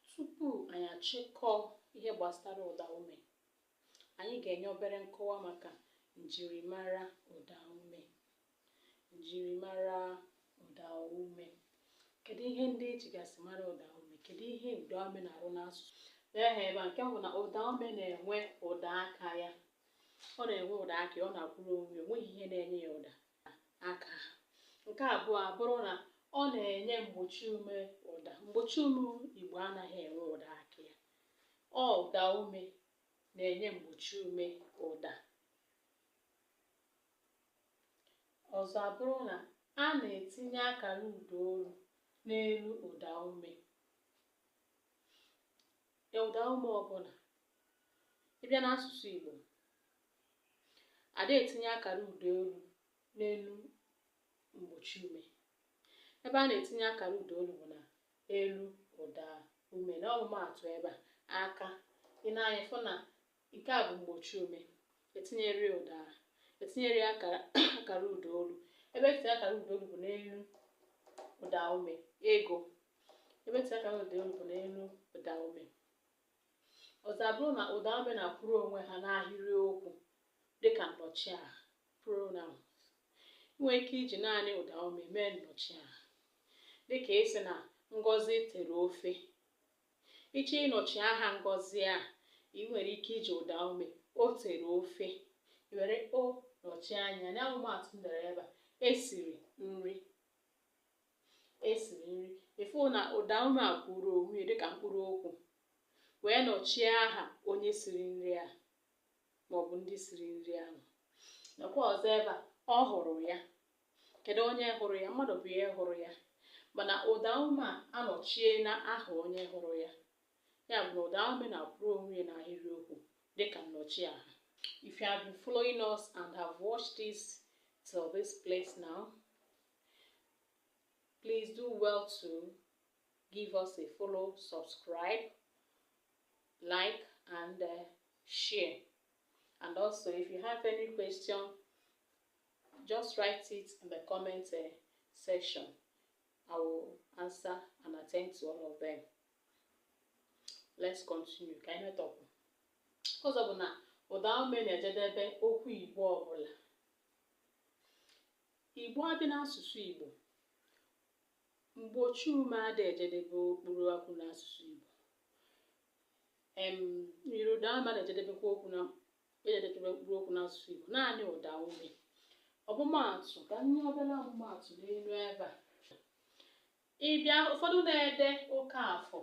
Tupu anyị achịkọọ ihe gbasara ụda ume, anyị ga-enye obere nkọwa maka njirimara ụda ume. Njirimara ụda ume. Kedu ihe ndị e jigasị mara ụda ume? Kedu ihe ụda ume na-arụ n'asụsụ? Lee ha ebe a nke mbụ bụ na ụda ume na-enwe ụda aka ya. Ọ na-enwe ụda aka ya, ọ na-akwụrụ onwe ya, o nweghị ihe na-enye ya ụda. aka ha nke abụọ abụrụ na ọ na-enye mgbochi ume ụda mgbochi ume igbo anaghị enwe ụda aka ya ọ ụda ume na-enye mgbochi ume ụda ọzọ abụrụ na a na-etinye akara ụda olu n'elu ụda ume ya ụda ume ọbụla ị bịa n'asụsụ Igbo ada etinye akara ụda olu n'elu mgbochi ume ebe a na-etinye akara ụda olu bụ na elu ụda ume na ọmụmaatụ ebe a aka i nee anya fụ na Nke a bụ mgbochi ume. Etinyerọ ya ụda ahụ. Etinyerọ ya akara akara ụda olu. Ebe e tii akara ụda olu bụ n'elu ụda ume. Ego, ebe e tii akara ụda olu bụ n'elu ụda ume. Ọzọ abụrụ na ụda ume na-akwụrụ onwe ha n'ahịrị okwu dịka nnọchiaha pronouns. I nwere ike iji naanị ụda ume mee nnọchiaha dịka ị sị na Ngozi tere ofe Ị chọọ ịnọchi aha Ngozi a, i nwere ike iji ụda ume o tere ofe i were o nọchie anya na ọmụmaatụ m dere ebe a e siri nri e siri nri ị fụ na ụda ume a kwụrụ onwe ya dịka mkpụrụ okwu wee nọchie aha onye siri nri a maọbụ ndị siri nri ahụ nakwa ọzọ ebe a ọ hụrụ ya kedu onye hụrụ ya mmadụ bụ ihe hụrụ ya mana ụda ume a anọchiena aha onye hụrụ ya ya bụ na ụda ume na-akwụrụ onwe ya n'ahịrịokwu dịka nnọchiaha if you have been following us and have watched this till this place now please do well to give us a follow subscribe like and uh, share and also if you have any question Just write it in the comment uh, section. I will answer and attend to all of them. Let's continue. Ka anyị metọpụ. Ọzọ bụ na ụda ume na-ejedebe okwu Igbo ọbụla. Igbo adị n'asụsụ Igbo. Mgbochi ume adị ejedebe mkpụrụ okwu n'asụsụ Igbo. Em, myiri ụda ume na-ejedebekwa okwu na na-ejedebe mkpụrụ okwu n'asụsụ Igbo naanị ụda ume ọmụmaatụ ka m nye obere ọmụmaatụ n'elu ebe a ị bịa ụfọdụ na-ede Okafọ